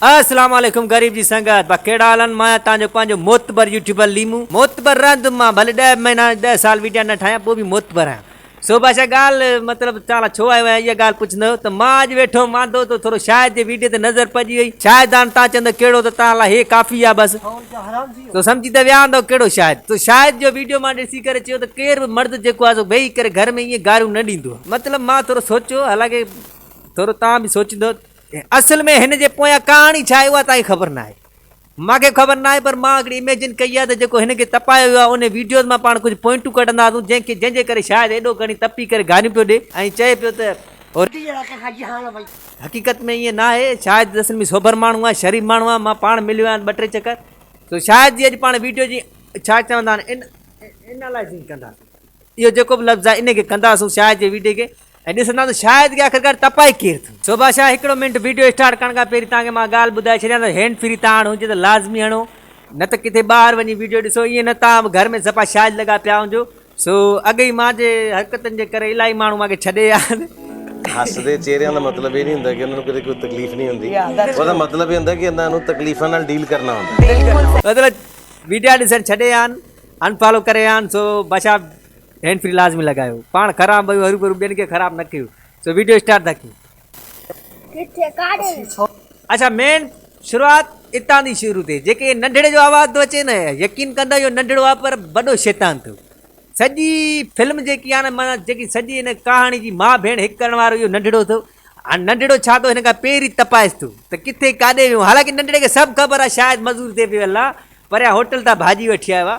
السلام عليڪم غريب جي سنگت با ڪهڙا حال آهن مان تهان جو پنهنجو معتبر يوٽيوبر ليمو معتبر رهندم مان ڀلي ڏهه مهينا ڏهه سال ويڊيا نه ٺاهيان پوء به معتبر آهيان سو بادشاهه ڳالهه مطلب توهان لا ڇو آيو آهيان اها ڳالهه پڇندو ته مان اڄ ويٺو هوم واندو ته ٿورو شاهد جي ويڊيو تي نظر پئجي وئي شاهد هاڻ توهان چوندو ڪهڙو ته توهان لا هي ڪافي آهي بس تو سمجهي ته ويا هوندو ڪهڙو شاهد تو شاهد جو ويڊيو مان ڏسي ڪري چيو ته ڪير به مرد جيڪو آهي سو ويهي ڪري گهر ۾ ائين گاريون نه ڏيندو آهي مطلب مان ٿورو سوچيو حالانڪه ٿورو توهان به سوچيندو اصل ۾ هن جي پويان ڪهاڻي ڇا آهي اها تائين خبر ناهي. مان کي به خبر ناهي پر مان هڪڙي اميجن ڪئي آهي ته جيڪو هن کي تپايو ويو آهي انهي ويڊيوز مان پاڻ ڪجهه پوائنٽون ڪڍندا هئاسون جنهن کي جنهن جي ڪري شايد ايڏو کڻي تپي ڪري گاريون پيو ڏي ۽ چئي پيو ته هو حقيقت ۾ ائين ناهي شايد اصل ۾ سوڀر ماڻهو آهي شريف ماڻهو آهي مان پاڻ مليو آهيان ٻه ٽي چڪر سو شايد جي اڄ پاڻ ويڊيو جي ڇا چوندا آهن انالائزنگ ڪنداسون اهو جيڪو به لفظ آهي انهي کي ڪنداسون شايد جي ويڊيو کي ۽ ڏسندا ته شايد ڪي آخرڪار تپائي ڪير ٿو. شوڀا شاھ هڪڙو منٽ وڊيو اسٽارٽ ڪرڻ کان پهرين توهان کي مان ڳالھ ٻڌائي ڇڏيان ته هينڊ فري تاڻ هجي ته لازمي هڻو نه ته ڪٿي ٻاهر وڃي وڊيو ڏسو ائين نه توهان به گهر ۾ صفا شايد لڳا پيا هجو سو اڳ ئي مان جي حرڪتن جي ڪري الاهي ماڻهو مان کي ڇڏي ويا آهن. هسدي چهري دا مطلب اي نهي هوندا ڪي انهن کي ڪوئي تڪليف نهي هوندي اندا مطلب اي هوندا ڪي اندا انهن تڪليفن نال ڊيل ڪرنا هوندا. مطلب ويڊيا ڏسڻ ڇڏي ويا آهن انفالو ڪري ويا آهن سو باشا هينڊ فري لازمي لڳايو پاڻ خراب بيو هروڀرو ٻين کي خراب نه ڪيو سو ويڊيو اسٽارٽ ٿا ڪيون ڪٿي ڪاڙي اچا مين شروعات اتان دي شروع ٿي جيڪي ننڍڙي جو آواز ٿو اچي نه يقين ڪندا اهو ننڍڙو آ پر وڏو شيطان ٿو سڄي فلم جيڪي آ نه مانا جيڪي سڄي هن ڪهاڻي جي ماء ڀيڻ هڪ ڪرڻ وارو اهو ننڍڙو ٿو هاڻ ننڍڙو ڇا ٿو هن کان پهرين تپائس ٿو ته ڪٿي ڪاڏي ويو حالانڪه ننڍڙي کي سڀ خبر آ شايد مزور تي پيو الله پريان هوٽل تان ڀاڄي وٺي آيو آ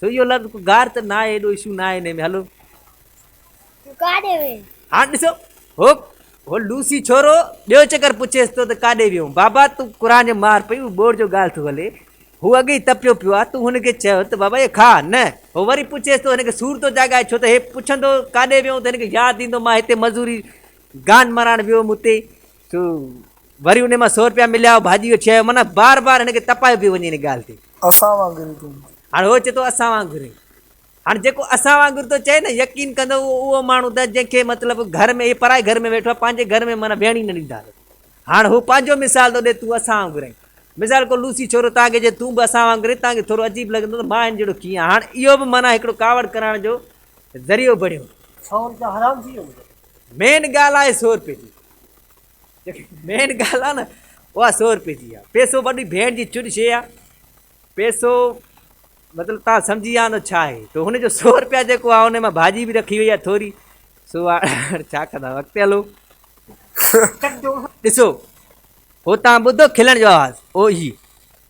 سو اهو لفظ ڪو گار ته ناهي ايڏو اشو ناهي انهي ۾ هلو ڪاڏي وين هاڻ ڏسو هو هو لوسي ڇورو ٻيو چڪر پڇيس ٿو ته ڪاڏي ويو بابا تون قرآن جو مار پئي هو بوڙ جو ڳالهه ٿو هلي هو اڳ ئي تپيو پيو آ تون هن کي چيو ته بابا اهي کاء نه هو وري پڇيس ٿو هن کي سور ٿو جاڳائي ڇو ته هي پڇندو ڪاڏي ويو ته هن کي ياد ايندو مان هتي مزوري گان مرائڻ ويو هوم اتي سو وري انهي مان سو رپيا مليا هو ڀاڄي جو ڇهيو معنيٰ بار بار هن کي تپايو پيو وڃي ان ڳالهه تي اسان وانگر ئي تون هاڻ هو چئي ٿو اسان وانگر ئي هاڻ جيڪو اسان وانگر ٿو چئي نه يقين ڪندو اهو اهو ماڻهو ته جنهن کي مطلب گهر ۾ هي پرائي گهر ۾ ويٺو آهي پنهنجي گهر ۾ معنيٰ ويهڻ ئي نه ڏيندا هاڻ هو پنهنجو مثال ٿو ڏي تون اسان وانگر آهين مثال ڪو لوسي ڇورو تان کي جي تون به اسان وانگر آهين تان کي ٿورو عجيب لڳندو ته مان هن جهڙو ڪيئن هاڻ اهو به معنيٰ هڪڙو ڪاوڙ ڪرائڻ جو ذريعو بڻيو سو رپيا حرام ٿي ويو مين ڳالهه آهي سو روپيه جي جيڪي مين ڳالهه آهي نه اها سو روپيه جي آهي پيسو وڏي ڀيڻ جي چڙ شي آهي پيسو مطلب تان سمجھي ويا آهن ڇا آهي تو هن جو سو روپيا جيڪو آهي ان مان ڀاڄي به رکي وئي آهي ٿوري سو ڇا ڪندا اڳتي هلو ڏسو هو تان ٻڌو کلڻ جو آواز او هي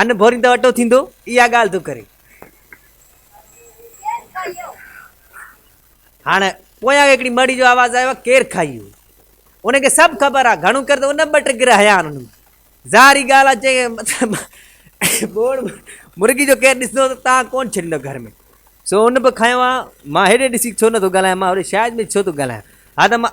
ان ڀورين ته اٽو ٿيندو، اها ڳالهه ٿو ڪري. هاڻ پويان هڪڙي مڙهي جو آواز آيو، ڪير کائيو؟ ان کي سڀ خبر آ، گهڻو ڪر ته ان ٻه ٽه گرهه هيا آن ظاهري ڳالهه آ چئي مطلب ٻوڙ مرغي جو ڪير ڏسندو ته تان ڪون ڇڏيندو گهر ۾ سو ان به کايو آ مان هيڏي ڏسي ڇو نه ٿو ڳالهايان مان هوڏي شايد ۾ ڇو ٿو ڳالهايان ها ته مان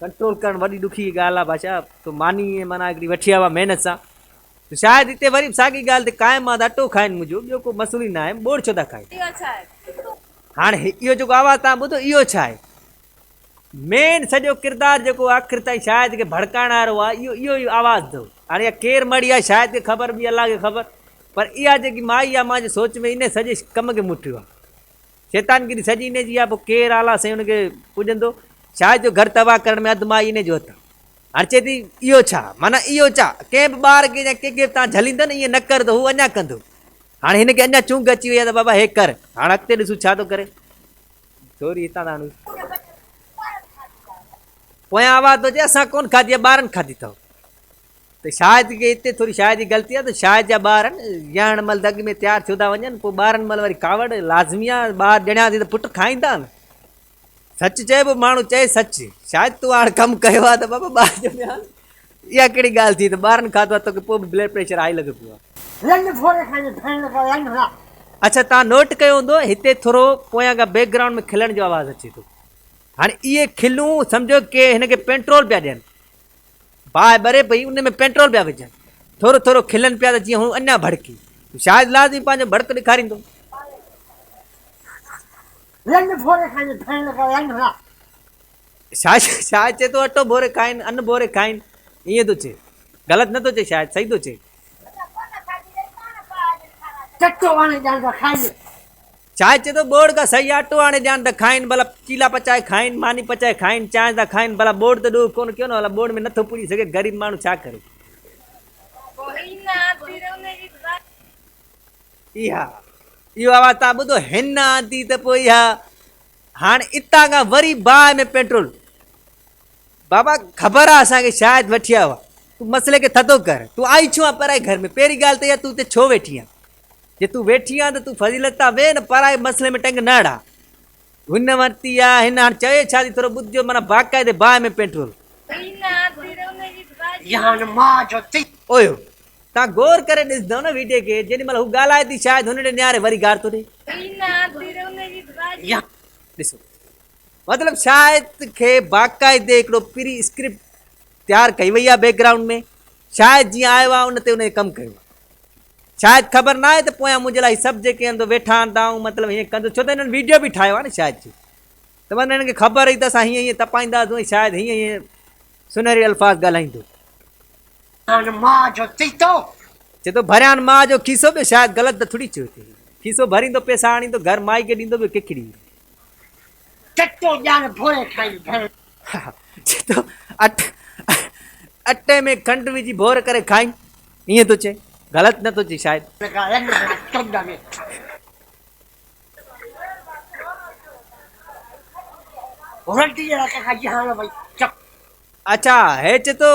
ڪنٽرول ڪرڻ وڏي ڏکي ڳالهه آهي بادشاهه تو ماني ۽ معنيٰ هڪڙي وٺي آيو آهي محنت سان تو شايد هتي وري به ساڳي ڳالهه تي قائم آهين ته اٽو کائين منهنجو ٻيو ڪو مسئلو ئي ناهي ٻوڙ ڇو ٿا کائين. هاڻ اهو جيڪو آواز توهان ٻڌو اهو ڇا آهي؟ مين سڄو ڪردار جيڪو آخر تائين شايد کي ڀڙڪائڻ وارو آهي اهو اهو ئي آواز اٿو هاڻ اها ڪير مڙي آهي شايد کي خبر ٻي الله کي خبر پر اها جيڪي مائي آهي مانجي سوچ ۾ انهي سڄي ڪم کي مٺيو آهي. شيطان گيري سڄي انهي جي آ پوء ڪير اعليٰ سائين ان کي پوڄندو؟ شايد جو گهر تباهه ڪرڻ ۾ اڌ مائي انهي جو هٿ آ. هاڻ چئي ٿي اهو ڇا؟ معنيٰ اهو ڇا؟ ڪنهن به ٻار کي يا ڪنهن کي به توهان جهليندو نه ائين نه ڪر ته هو اڃا ڪندو. هاڻي هن کي اڃا چونگ اچي وئي آ ته بابا هي ڪر. هاڻ اڳتي ڏسون ڇا ٿو ڪري. ڇوري هتان تان هڻيس. پويان آواز ٿو اچي اسان ڪونه کاڌي آ ٻارن کاڌي اٿئو. ته شايد ڪي اتي ٿوري شاعر جي غلطي آهي ته شاعر جا ٻار ڄڻڻ مهل دڳ ۾ تيار ٿيو ٿا وڃن پوء ٻارن مهل وري ڪاوڙ لازمي آهي ٻار ڄڻيا ٿي ته پٽ کائيندا نه سچ چئبو ماڻهو چئي سچ شايد تون هاڻ ڪم ڪيو آهي ته بابا ٻار ڄميا اها ڪهڙي ڳالهه ٿي ته ٻارن کاڌو آهي توکي پوء به بلڊ پريشر هائي لڳو پيو آهي. لنڊ ٿوري کڻي ڀيڻ کان لنڊ نه. اڇا توهان نوٽ ڪيو هوندو هتي ٿورو پويان کان بيڪ گرائونڊ ۾ کلڻ جو آواز اچي ٿو هاڻي اهي کلون سمجهو ڪي هن کي پينٽرول پيا ڏين. باهه ٻري پئي، ان ۾ پيٽرول پيا وجهن. ٿورو ٿورو کلن پيا ته جيئن هو اڃا ڀڙڪي. شايد لازمي پنهنجو ڀڙڪ ڏيکاريندو. لنڊ ڀوري کائين، کائڻ لڳا لنڊ لا. شايد چئي ٿو اٽو ڀوري کائين، ان ڀوري کائين. ائين ٿو چئي. غلط نه ٿو چئي شايد، صحيح ٿو چئي. چٽو وڻ ڄاڻ ته کائجي. چانهه چي ٿو ٻوڙ کان سهي آٽو آڻي ڏيان ته کائين ڀلا چيلا پچائي کائين ماني پچائي کائين چانهه سان کائين ڀلا ٻوڙ ته ڏوهه ڪونه ڪيو نه ڀلا ٻوڙ ۾ نٿو پوري سگهي غريب ماڻهو ڇا ڪري. اها اهو آواز تان ٻڌو هن آندي ته پوء اها هاڻ اتان کان وري باهه ۾ پيٽرول بابا خبر آ اسان کي شايد وٺيا هئا تون مسئلي کي ٿڌو ڪر تون آئي ڇو آ پرائي گهر ۾ پهرين ڳالهه ته اها تون اتي ڇو ويٺي آ جي تون ويٺي آن ته تون فضيلت تان ويهه نه پرائي مسئلي ۾ ٽنگ نه اڙاء هن ورتي آ هن هاڻ چوي ڇا ٿي ٿورو ٻڌجو معنيٰ باقاعدي باهه ۾ پيٽرول جهان ماء جو تي اويو تان غور ڪري ڏسندو نه ويڊيو کي جيڏي مهل هو ڳالهائي ٿي شايد هن ڏي نياري وري گار ٿو ڏي ڏسو مطلب شايد کي باقاعدي هڪڙو پري اسڪرپٽ تيار ڪئي وئي آ بيڪ گرائونڊ ۾ شايد جيئن آيو آ ان تي ان کي ڪم ڪيو آ شايد خبر ناهي ته پويان منهنجي لاء هي سڀ جيڪي اندر ويٺا آهن ته آئون مطلب هيئن ڪندس ڇو ته هنن ويڊيو به ٺاهيو آ نه شايد جي ته مطلب هنن کي خبر هئي ته اسان هيئن هيئن تپائينداسون ۽ شايد هيئن هيئن سنهري الفاظ ڳالهائيندو. ڀريان ماء جو تيتو. چئي ٿو ڀريان ماء جو کيسو ٻيو شايد غلط ته ٿوري چيو ٿئي کيسو ڀريندو پئسا آڻيندو گهر مائي کي ڏيندو ٻيو ڪيکي ڏيندو چٽو ڄاڻ ڀوري کائي ڀيڻ. چٽو اٽي ۾ کنڊ وجهي ڀور ڪري کائين ائين ٿو چئي غلط نه ٿو چئي شايد. لڳا رنگ ڀلا چونڊ ۾. رنڊي جي رک کان جهان وئي چپ. اڇا هي چي ٿو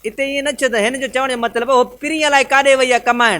اتي ائين نه چئي ته هن جو چوڻ جو مطلب هو پرينء لاء ڪاڏي وئي آهي ڪمائڻ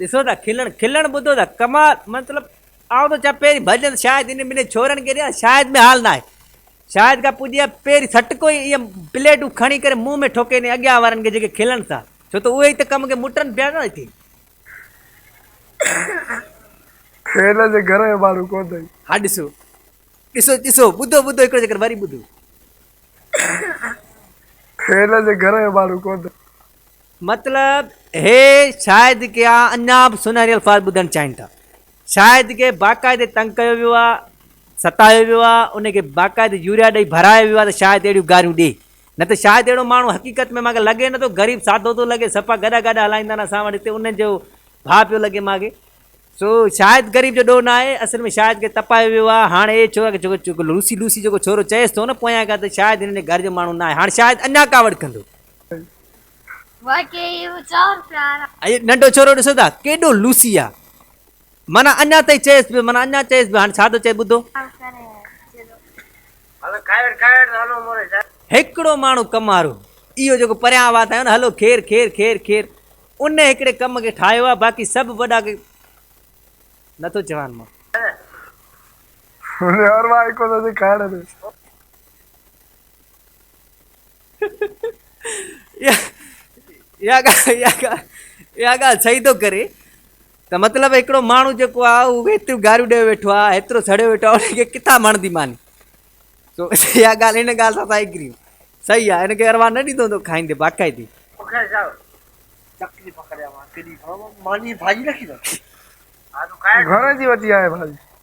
ڏسو ته کلڻ کلڻ ٻڌو ته ڪمال مطلب آئون ٿو چاهيان پهرين ڀڄن شايد انهن ٻنهي ڇورن کي ڏيان شايد ۾ حال ناهي شايد کان پڄي ها پهرين سٽڪو ئي ايئن پليٽون کڻي ڪري منهن ۾ ٺوڪي ڏي اڳيان وارن کي جيڪي کلن ٿا ڇو ته اهي ئي ته ڪم کي مٽن پيا نه هتي هن جي گهر جو ماڻهو ڪو نه ها ڏسو ڏسو ڏسو ٻڌو ٻڌو هڪڙو چڪر وري ٻڌو هن جي گهر جو ماڻهو ڪو نه مطلب هي شايد ڪي اڃا به سونهري الفاظ ٻڌڻ چاهين ٿا. شايد ڪي باقاعدي تنگ ڪيو ويو آ، ستايو ويو آ، ان کي باقاعدي يوريا ڏئي ڀرايو ويو آ ته شايد اهڙيون گاريون ڏي. نه ته شايد اهڙو ماڻهو حقيقت ۾ مانکي لڳي نٿو، غريب سادو ٿو لڳي، سپا گڏا گاڏا هلائيندا آهن اسان وٽ هتي انهن جو ڀاء پيو لڳي مانکي. سو شايد غريب جو ڏوهه نه آهي، اصل ۾ شايد ڪي تپايو ويو آ. هاڻ اهي ڇوڪرا ڪي جيڪو لوسي لوسي جيڪو ڇورو چئيس ٿو نه پويان کان ته شايد هنن جي گهر جو ماڻهو نه آهي. هاڻ شايد اڃا ڪاوڙ ڪندو. ائي ننڍو ڇورو ڏسو ٿا ڪيڏو لوسي آ معنيٰ اڃا تائين چيس پيو معنيٰ اڃا چيس پيو هاڻي ڇا ٿو چئي ٻڌو. هڪڙو ماڻهو ڪم وارو اهو جيڪو پريان آواز ٿايو نه هلو خير خير خير خير ان هڪڙي ڪم کي ٺاهيو آ باقي سڀ وڏا ڪي نه ٿو چوان مان. اها ڳالهه صحيح ٿو ڪري ته مطلب هڪڙو ماڻهو جيڪو آهي اهو ايتريون گاريون ڏيو ويٺو آهي ايترو سڙيو ويٺو آهي ان کي ڪٿان ماڻدي ماني سو اها ڳالهه ان ڳالهه سان سائي ڪريون صحيح آهي هن کي اروا نه ڏيندو هوندو کائيندي باقاعدي گهر جي وڌي آهي ڀاڄي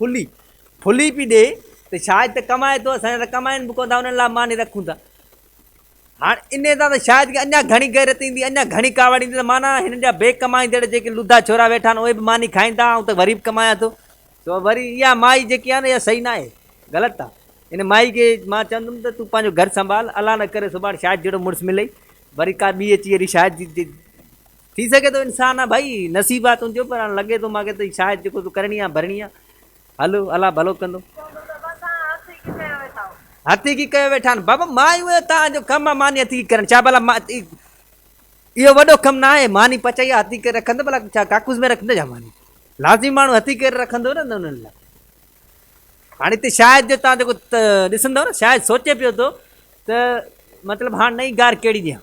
ڦلي ڦلي پي ڏي ته شايد ته ڪمائي ٿو اسان جا ته ڪمائن به ڪون ٿا انهن لاء ماني رکون ٿا هاڻ انهي سان ته شايد کي اڃا گهڻي غيرت ايندي اڃا گهڻي ڪاوڙ ايندي ته معنيٰ هنن جا بي ڪمائيندڙ جيڪي لڌا ڇورا ويٺا آهن اهي به ماني کائيندا آئون ته وري به ڪمايان ٿو سو وري اها مائي جيڪي آهي نه اها صحيح ناهي غلط آهي ان مائي کي مان چوندم ته تون پنهنجو گهر سنڀال الله نه ڪري سڀاڻ شايد جهڙو مڙس ملئي وري ڪا ٻي اچي اهڙي شايد ٿي سگهي ٿو انسان آ ڀائي نصيب آ تنهنجو پر هاڻ لڳي ٿو مان کي ته شايد جيڪو تو ڪرڻي آ ڀرڻي آ هل الله ڀلو ڪندو. هٿي ڪي ڪيو ويٺا آهن بابا ماني اهو توهان جو ڪم آ ماني هٿي ڪي ڪرڻ ڇا ڀلا اهو وڏو ڪم نه آهي ماني پچائي آ هٿي ڪري رکندو ڀلا ڇا ڪاڪوس ۾ رکندو ڇا ماني لازمي ماڻهو هٿي ڪري رکندو نه انهن لاء هاڻي هتي شايد جو تان جيڪو ڏسندو نه شايد سوچي پيو ٿو ته مطلب هاڻ نئين گار ڪهڙي ڏيان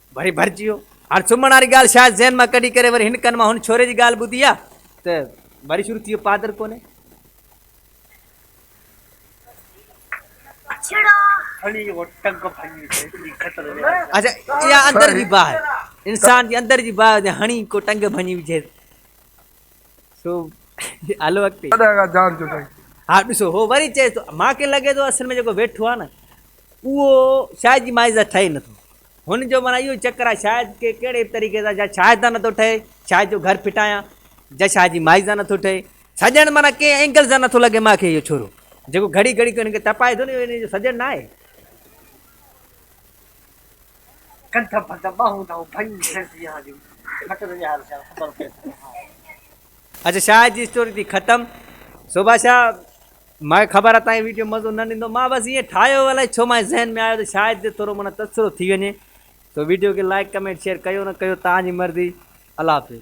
وري ڀرجي ويو. هاڻ سمهڻ واري ڳالهه شايد ذهن مان ڪڍي ڪري وري هن ڪن مان هن ڇوري جي ڳالهه ٻڌي آ ته وري شروع ٿي ويو پادر ڪونهي. اچا اها اندر جي باهه انسان جي اندر جي باهه جي هڻي ڪو ٽنگ ڀڃي وجهي سو هلو اڳتي. هاڻ ڏسو هو وري چئي ٿو مانکي لڳي ٿو اصل ۾ جيڪو ويٺو آ نه اهو شايد جي مائيزه ٺهي نٿو. هن جو معنيٰ اهو ئي چڪر آهي، شايد ڪي ڪهڙي به طريقي سان جا شاهه تان نٿو ٺهي، شاهه جو گهر ڦٽايان، جا شاهه جي مائي سان نٿو ٺهي، سڄڻ معنيٰ ڪنهن اينگل سان نٿو لڳي مان کي اهو ڇورو، جيڪو گهڙي گهڙي ڪنهن کي تپائي ٿو نه اهو ان جو سڄڻ ناهي. ڪنڌ ڀت ٻانهون نئون ڀڃي ڇڏ جيان جو ڀت ته ڄار سيان خبر پئي ٿو ها. اچ شاهه جي اسٽوري ٿي ختم. سوڀا شاهه ماکي خبر آ تاهي ويڊيو مزو نه ڏيندو مان بس ائين ٺاهيو هو الائي ڇو ماهي ذهن ۾ آيو ته شايد جو ٿورو معنيٰ تبصرو ٿي وڃي سو ويڊيو کي لائيڪ ڪمينٽ شيئر ڪيو نه ڪيو تهان جي مرضي الله حافظ.